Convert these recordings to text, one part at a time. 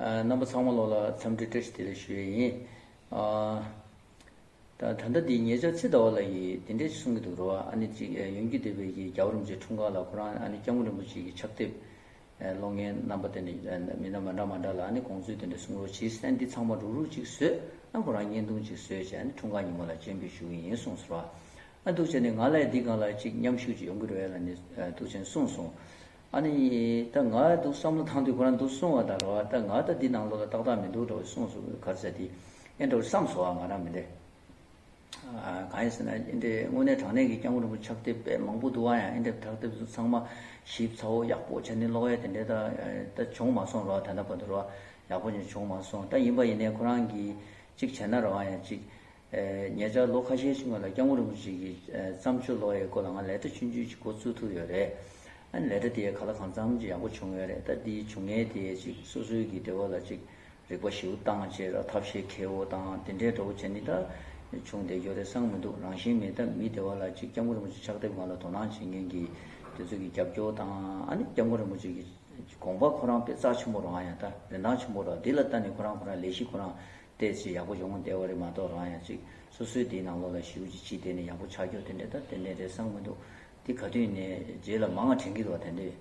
རྣམ་པ་ཚང་མ་ལོག་ལ་འཚམས་འདྲི་བཀྲ་ཤིས་བདེ་ལེགས་ཞུ་ཡས་ཡིན། ད་ལྟ་འདི་ངེད་ཅག་ཚེ་ཟླ་བ་ལ་ཡིས་འདི་འདྲས་གསུང་གི་འདུག་རོ་ཨ་ནི་གཅིག་ཡོན་གྱི་སྡེ་བའི་གྱི་རྒྱ་བོ་རིན་པོ་ཆེ་འཁྲུངས་སྐར་ལ་ཁོ་རང་ཨ་ནི་སྐྱབས་མགོན་རིན་པོ་ཆེ་གྱི་ཕྱག་དེབ་ལོ་ངའི་རྣམ་པ་དེ་འདྲས་མི་སྣ་མ་འདྲ་མ་འདྲ་ལ་ཨ་ནི་དགོངས་ཚུལ་དེ་འདྲས་གསུང་རོགས་གྱིས་སེ་འདི་ཚང་མ་རུག་རུག་ཅིག་བཟོས་ཨ་ཁོ་རང་བརྙན་ཐུང་ཅིག་བཟོས་བྱས་ཨ་ནི་འཁྲུངས་སྐར་ཉིན་མོ་ལ་སྤྱན་འབུལ་ཞུ་གི་ཡིན་གསུངས་སོ་ར་ཨ་འདུག་བྱས་ནས་ང་ལས་འདི་གང་ལ་གཅིག་མཉམ་ཞུགས་ཅིག་ཡོང་གི་རེད་ལ་ནི་འདུག་བྱས་ནས་གསུངས་སོང། ཨ་ནི། ད་ང་ཡི་འདུག་བསམ་བློ་ཐང་དུས་ཁོ་རང་འདུག་གསུང་བ་དང་འགྲོ་བ་ད་ང་ད་འདི་ནང་ལོགས་ལ་ཏག་ཏག་མི་འདུག་འགྲོ་བའི་གསུང་སུ་གར་ཟེར་དེ་ཨེ་འགྲོ་བསམ་སོ་ཨ་ང་རང་མི་འདེད། གང་ཡིན་ཟེར་ན་ཨེ་འདེད་དངོས་གནས་དྲང་གནས་ཀྱི་སྐྱབས་མགོན་རིན་པོ་ཕྱག་དེབ་དཔེ་མང་པོ་འདུག་ཨ་ཡང་ཨེ་འདེད་ཕྱག་དེབ་ཚང་མ་ཞིབ་ཚ་བོ་ཡག་པོ་བྱས་ནས་ཀློག་ཨེ་དེ་འདྲས་ད་ད་བྱུང་མ་སོང་རོ་ཨ་ད་ལྟ་བར་དུ་རོ་ཨ་ཡག་པོ་ཅིག་བྱུང་མ་སོང་ད་ཡིན་པ་ཡིན་ནས་ཁོ་རང་གིས་ཅིག་བྱས་ན་རོ་ཨ་ཡང་ཅིག། ཉེ་ཆར་ལོ་ཁ་ཤས་ཕྱི་མ་ལ་སྐྱག་མོ་རིན་པོ་ཆེ་གི་བརྩམས་ཆོས་ཀློག་ཡའི་སྐོར་ལ་ང་ལས་གྲྭ་ཆུང་ཆུང་ཅིག་མགོ་བཙུགས་ཐུབ་ཡོད་རེད། ཨ་ནི་ལས་གྲྭ་དེའི་ཁ་ལ་གང་འཚམ་ཅིག་ཡག་པོ་བྱུང་ཡོད་རེད་ད་དེའི་བྱུང་ངན་དེ་ཅིག་སོ་སོའི་གི་འབྲེལ་བ་ལ་ཅིག་རིག་པ་ཞིའུ་ཏང་བཅས་ལ་ཐབས་ཤེས་ཁེ་བོ་དང་དེ་འདྲའི་འདྲ་བོ་བྱས་ནི་ད་བྱུང་བསྡད་ཡོད་རེད་བསམ་མི་འདུག་རང་བཞིན་མེད་སྟབས་མི་བདེ་བ་ལ་ཅིག་སྐྱག་མོ་རིན་པོ་ཆེ་ཕྱག་དེབ་ང་ལ་དོ་སྣང་བྱེད་མཁན་གི་དེ་ཚོ་གི་རྒྱབ་སྐྱོར་དང་ཨ་ནི་སྐྱག་མོ་རིན་པོ་ཆེ་གི་དགོངས་པ་ཁོ་རང་དཔེ་རྩག་ཆེན་པོ་རང་ཡང་ད་རིན་ཐང་ཆེན་པོ་ར་དེ་ལ་ད་ནི་ཁོ་རང་ཁོ་རང་ལས་གཞི་ཁོ་རང་ལྟས་ཚུལ་ཡག་པོ་ཡོང་གི་འདས་བ་རེད་མ་གཏོགས་རང་ཡང་ཅིག་སོ་སོའི་དེའི་ནང་ལོགས་ལ་ཞིབ་ཀྱིས་ཕྱིས་བལྟས་ནས་ཡག་པོ་ཆགས་རྒྱུ་དེ་འདྲས་ད་ཏན་ཏན་རེད་བསམ་གི་འདུག་འདི་ག་དུས་ནས་རྗེས་ལ་མ་ང་དྲན་གི་འདུག་བ་དེ་འདྲས་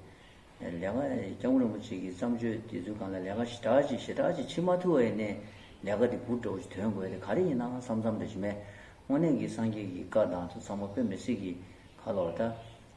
ལས་ཀ་སྐྱ་བོ་རིན་པོ་ཆེ་གི་བརྩམས་ཆོས་དེ་ཚོའི་གང་ལ་ལས་ཀ་ཞེ་དྲག་ཅིག་ཞེ་དྲག་ཅིག་ཕྱིས་མ་ཐུ་བ་ཡིན་ནའི་ལས་ཀ་དེ་འབུར་གྲོགས་ཀྱི་དོན་དགོས་དེ་ག་རེ་ཡིན་ནའང་བསམ་བསམ་རེ་བྱེད་མས་དངོས་གནས་གི་སངས་རྒྱས་ཀྱི་བཀའ་དང་དུ་ཚང་མ་བོད་མི་སྲིད་ཀྱི་ཁ་ལོ་བ་ད་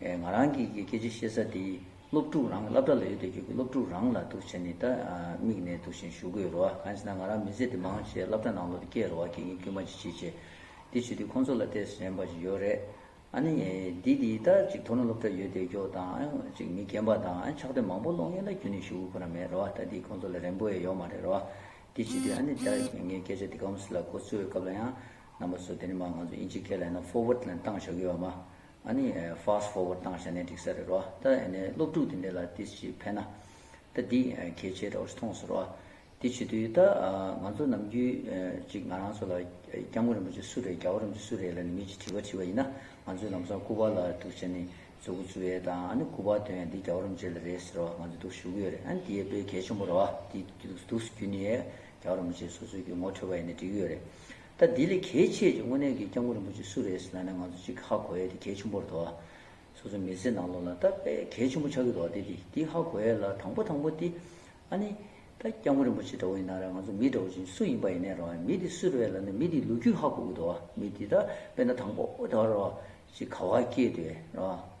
ང་རང་གི་སྐད་ཆ་བཤད་ས་དེ་སློབ་ཕྲུག་རང་གི་བསླབ་གྲྭ་ལ་ཡོད་དུས་ཁྱོད་ཀྱི་སློབ་ཕྲུག་རང་ལ་ཐུག་བྱས་ནས་ད་དམིགས་ནས་ཐུག་བཞིན་ཞུ་དགོས་རོ། གང་ཞེ་ན་ང་རང་མི་ཚེ་འདི་མང་ཆེ་བསླབ་གྲྭ་ནང་ལོག་ཏུ་བསྐྱལ་རོ་བ་དགེ་རྒན་དཀྱུས་མ་ཅི་བྱེད་བྱེད། དེ་བྱེད་དུས་ཁོང་ཚོ་ལ་ལྟས་སུ་ཞེན་པ་ཞིག་ཡོད་རེད། ཨ་ནི། འདི་འདི་ལྟར་ཅིག་དོ་ན་སློབ་གྲྭ་ཡོད་དུས་སྒྱོགས་དང། ཅིག་མི་རྒན་པ་དང་ཕྱག་དེབ་མང་པོ་ཀློག་ཡུན་ལ་རྒྱུན་ནས་ཞུ་དགོས་ཁོ་ན་མེད་རོ་བ་ད་འདི་ཁོང་ཚོ་ལ་རན་པོ་ཡས་ཡོག་མ་རེད་རོ་བ། དེ་བྱེད་དུས་ཨ་ནི་ད་ཁྱོད་ངའི་སྐད་ཆ་འདི་ཁམས་ལ་གོ་ཚོད་སྐབས་ལ་ཡང། རྣམ་པ་ཚོ་དེ་ནི་མ་ང་ཚོ་དབྱིན་ཇིའི་སྐད་ལ་ཡང་ན Forward ལན་བཏང་བཞག་ཡོད་བ་མ། ཨ་ནི Fast Forward བཏང་ཤ་ནའི་འགྲིག་ས་རེད་རོ། ད་ཨ་ནི་སློབ་ཕྲུག་དེ་འདྲས་ལ་དེ་ཅིག་ཕན་ན། ད་འདི་གལ་ཆེ་རེད་མཐོང་སོ་རོ། དེ་བྱེད་དུས་ད་ང་ཚོ་ནམ་རྒྱུན་ཅིག་ང་རང་ཚོ་ལ་སྐྱབས་མགོན་རིན་པོ་ཆེ་སུ་རེད་རྒྱལ་བ་རིན་པོ་ཆེ་སུ་རེད་ལ་ནི་མི་ཅིག་དྲི་བ་དྲིས་པ་ཡིན་ན་ང་ཚོས་ལམ་སང་སྐུ་པར་ལ་འདུག་བྱས་ནས་མཛོད་སྒོ་བཙུགས་ཡས་དང་ཨ་ནི་སྐུ་པར་དོན་ཡང་འདི་རྒྱལ་བ་རིན་པོ་ཆེ་ལ་རེད་ཟེར་བ་ང་ཚོས་འདུག་ཞུ་གི་ཡོད་རེད་ཨ་ནི་དེ་ཡས་དཔེ་གལ་ཆེན་པོ་རེད་བ། འདི་འདུག་ཟུ་རྒྱུན་ནི་ཡས་རྒྱལ་བ་རིན་པོ་ཆེ་སོ་སོས་རྒྱུ་ངོ་འཕྲོད་པ་ཡས་ནི་འགྲིག་གི་ཡོད་རེད། ད་འདི་ལས་གལ་ཆེ་ཆེ་དངོས་གནས་གི་སྐྱབས་མགོན་རིན་པོ་ཆེ་སུ་རེད་ཟེར་ན་ནས་ང་ཚོ་ཅིག་ཧ་གོ་ཡས་དེ་གལ་ཆེན་པོར་དོ། སོ་སོ་མི་ཚེ་ནང་ལོག་ལ་ད་དཔེ་གལ་ཆེན་པོ་ཆགས་ཀྱི་འདོག་དེ་དེ་དེ་ཧ་གོ་ཡས་ལ་དང་པོ་དང་པོ་དེ། ཨ་ནི། ད་སྐྱབས་མགོན་རིན་པོ་ཆེ་འདྲ་བོ་ཡིན་ན་ར་ང་ཚོ་མི་འདྲ་བོ་ཅིག་སུ་ཡིན་པ་ཡིན་ནས་ར་བ་མི་དེ་སུ་རེད་ལ་ནས་མི་དེའི་ལོ་རྒྱུས་ཧ་གོ་གི་འདོག་མི་དེ་ད་དཔེ་ན་དང་པོ་ད་ར་བ་ཅིག་ག་བ་སྐྱེས་དེ་ར་བ།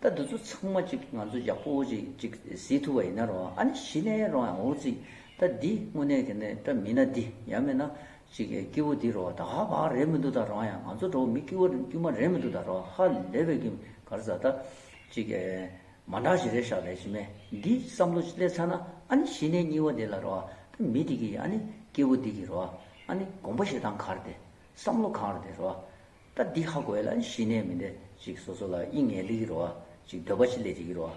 ད་འདི་ཚོ་ཚང་མ་ཅིག་ང་ཚོ་ཡག་པོ་ཅིག་ཅིག་བཟི་ཐུབ་པ་ཡིན་ན་རོང་ཨ་ནི་གཞི་ནས་རོང་ཡང་འོང་རྩིས་ད་འདི་དངོས་གནས་ཀྱི་ནི་ད་མིན་ན་འདི་ཡང་མིན་ན་ཅིག་སྐྱིད་བོ་འདི་རོ་ད་ཧ་བག་རེད་མི་འདུག་ད་རོང་ཡང་ང་ཚོ་འགྲོ་བ་མི་སྐྱིད་བོ་དཀྱུས་མ་རེད་མི་འདུག་ད་རོ་ཧ་ལས་པའི་གི་གར་བཟའ་ད་ཅིག་མ་འདྲ་ཞིག་རེད་ཤག་ལས་ཅི་མེད་འདི་བསམ་བློ་ཅིག་སླེབས་ཚར་ན་ཨ་ནི་གཞི་ནས་སྙིགས་བ་འདི་ལ་རོ་ད་མི་འདི་གི་ཨ་ནི་སྐྱིད་བོ་འདི་གི་རོ་ཨ་ནི་དགོངས་པ་ཞིག་དང་གར་དེ་བསམ་བློ་གང་རོ་དེ་རོ། ད་འདི་ཧ་གོ་བས་ལ་ཞི་གནས་མི་འདྲ་ཅིག་སོ་སོ་ལ་དབྱིངས་ངེས་ལེགས་རོ་ཅིག་འདོད་པ་ཅིག་ལས་ཅིག་རོ།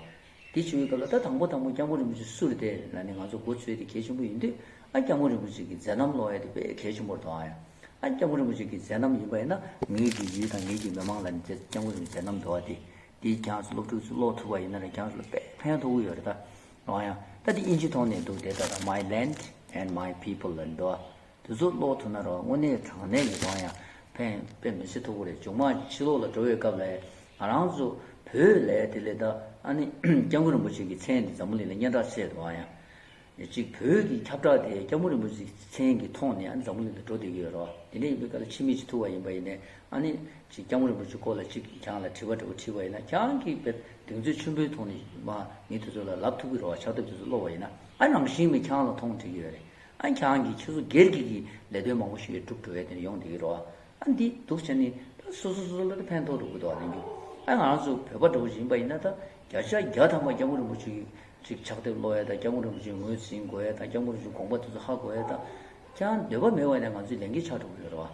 དེ་བྱུང་བའི་སྐབས་ལ་ད་དང་པོ་དང་པོ་སྐྱབས་མགོན་རིན་པོ་ཆེ་སུ་རི་དེ་ལ་ནི་ང་ཚོ་སྒོ་ཚུད་དེ་གལ་ཆེན་པོ་ཡིན་དུས་ཨ་སྐྱབས་མགོན་རིན་པོ་ཆེ་གི་མཛད་རྣམ་ཀློག་ཡ་དེ་དཔེ་གལ་ཆེན་པོར་དོ་ཨ་སྐྱབས་མགོན་རིན་པོ་ཆེ་གི་མཛད་རྣམ་ཡིན་པ་ཡིན་ན་ངེད་ཀྱི་ཡུལ་དང་ངེད་ཀྱི་མི་མང་ལ་ནི་དེ་སྐྱབས་མགོན་རིན་པོ་ཆེ་མཛད་རྣམ་དོ་ཨ་དེ་དེ་གྱང་ཚོ་སློབ་ཕྲུག་ཚོས་ཀློག་ཐུབ་པ་ཡིན་ན་ནི་གྱང་ཚོ་ལ་དཔེ་ཕན་ཐོགས་གི་ཡོད་རེད་ད། ཨང་ཡང་ད་འདི་དབྱིན་ཇི་ཐོག་ནས་འདུག་དེ་ད་ད my land and my people ལ་ནི་འདུག་ཨ། དེ་ཚོ་ཀློག་ཐུབ་ན་རང་དངོས་གནས་དྲང་གནས་ཀྱི་དབང་ཡང་ཕན་པའི་མི་ཚེ་མཐོ་པོ་རེད་ཇོ་མང་ཕྱི་ལོག་ལ་འགྲོ་བའི་སྐབས་ལ་ང་རང་ཚོ་བོད་ལས་དེ་ལས་ད་ཨ་ནི་སྐྱབས་མགོན་རིན་པོ་ཆེ་གི་མཚན་དེ་འཛམ་བུ་གླིང་ལ་སྙན་གྲགས་ཆེ་དུ་ཨང་ཡང་ཅིག་བོད་ཀྱི་ཁྱབ་བསྒྲགས་དེ་སྐྱབས་མགོན་རིན་པོ་ཆེ་གི་མཚན་གི་ཐོག་ནས་ཨ་ནི་འཛམ་བུ་གླིང་ལ་འགྲོ་བསྡད་ཀྱི་ཡོད་རོ་དེ་འདྲ་ཡིན་པའི་སྐབས་ལ་ཕྱི་མིག་ཅིག་ཐུག་བ་ཡིན་པ་ཡིན་ནས་ཨ་ནི་ཅིག་སྐྱབས་མགོན་རིན་པོ་ཆེ་སྐོར་ལ་ཅིག་གང་ལ་དྲི་བ་འདྲ་བོ་དྲིས་པ་ཡིན་ན་གང་གི་དཔེར་གདེང་ཚོད་ཆེན་པོའི་ཐོག་ནས་མ་ངེས་དེ་ཚོ་ལ་ལབ་ཐུབ་ཀྱི་རོ་ཕྱག་དེབ་དེ་ཚོ་ཀློག་བ་ཡིན་ན་ཨ་རང་བཞིན་མི་གང་ལ་མཐོང་དྲིས་ཀྱི་ཡོད་རེད་ཨ་ཁྱང་གིས་ཁྱོད་ཚོ་སྒེར་གྱི་གི་ལས་དོན་མང་པོ་ཞིག་བསྒྲུབ་འགྲོ་བས་དེ་ནས་ཡོང་བསྡད་ཀྱི་རོགས། ཨ་འདི་སྡུག་ཅན་ནི་ད་སོ་སོ་སོ་སོ་འགྲོ་དེ་ཕན་ཐོག་འགྲོ་དགོས་འདུག་ཨ་ལེན་རྒྱུ། ཨ་ང་རང་ཚོ་བོད་པ་འགྲོ་བཞིན་པ་ཡིན་ན་ད་བརྒྱ་ཆ་བརྒྱ་ཐམ་པ་སྐྱབས་མགོན་རིན་པོ་ཆེ་གི་ཕྱག་དེབ་ཀློག་ཡ་དང་སྐྱབས་མགོན་རིན་པོ་ཆེ་ངོས་ཟིན་གོ་ཡ་དང་སྐྱབས་མགོན་རིན་པོ་ཆེ་དགོངས་པ་དེ་ཚོ་ཧ་གོ་ཡ་དང། ཀྱང་འདོད་པ་མེད་བ་ནས་ང་ཚོའི་ལས་འགན་ཆགས་འགྲོ་གི་ཡོད་རོགས།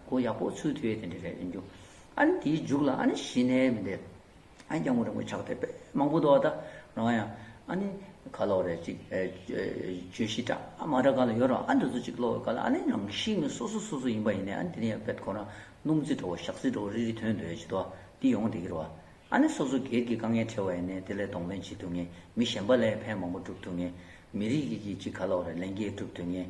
གོ་ཡག་པོ་ཚུལ་དེ་འདྲ་རེད་ཡིན་རྒྱུ། ཨ་ནི་དེའི་མཇུག་ལ་ཨ་ནི་ཞི་གནས་མི་འདེབས། ཨ་ནི་སྐྱག་མོ་རིང་པོ་ཆགས་ཐེབས་པས་མང་པོ་འདོགས་ད་རང་ཡང་ཨ་ནི་ག་ལོག་རེད་ཅིག་བརྗོད་གཞི་འདྲ་མ་འདྲ་ག་ལ་ཡོད་རུང་ཨ་འདི་ཚོ་ཅིག་ལོག་ག་ལ་ཨ་ནི་རང་གཤིས་ངོས་སོ་སོ་སོ་སོ་ཡིན་པ་ཡིན་ནའི་ཨ་ནི་དེ་ནི་ཡང་བེད་ཁོ་ན་སྣུམ་རྩི་འགྲོ་བ་ཞག་རྩི་འགྲོ་བ་རིལ་རིལ་དོན་དོན་བྱེད་དོ་འདི་ཡོང་འདི་གྱི་རོ། ཨ་ནི་སོ་སོ་སྒེར་གྱི་དཀའ་ངལ་ཕྲལ་བ་ཡིན་ནའི་དེ་ལས་གདོང་ལེན་བྱེད་ཐུབ་ངེས་མི་གཞན་པ་ལས་ཕན་མང་པོ་བསྒྲུབ་ཐུབ་ངེས་མི་རིགས་ཀྱི་གཅིག་ག་ལོག་རེད་ལེན་རྒྱས་བསྒྲུབ་ཐུབ་ངེས།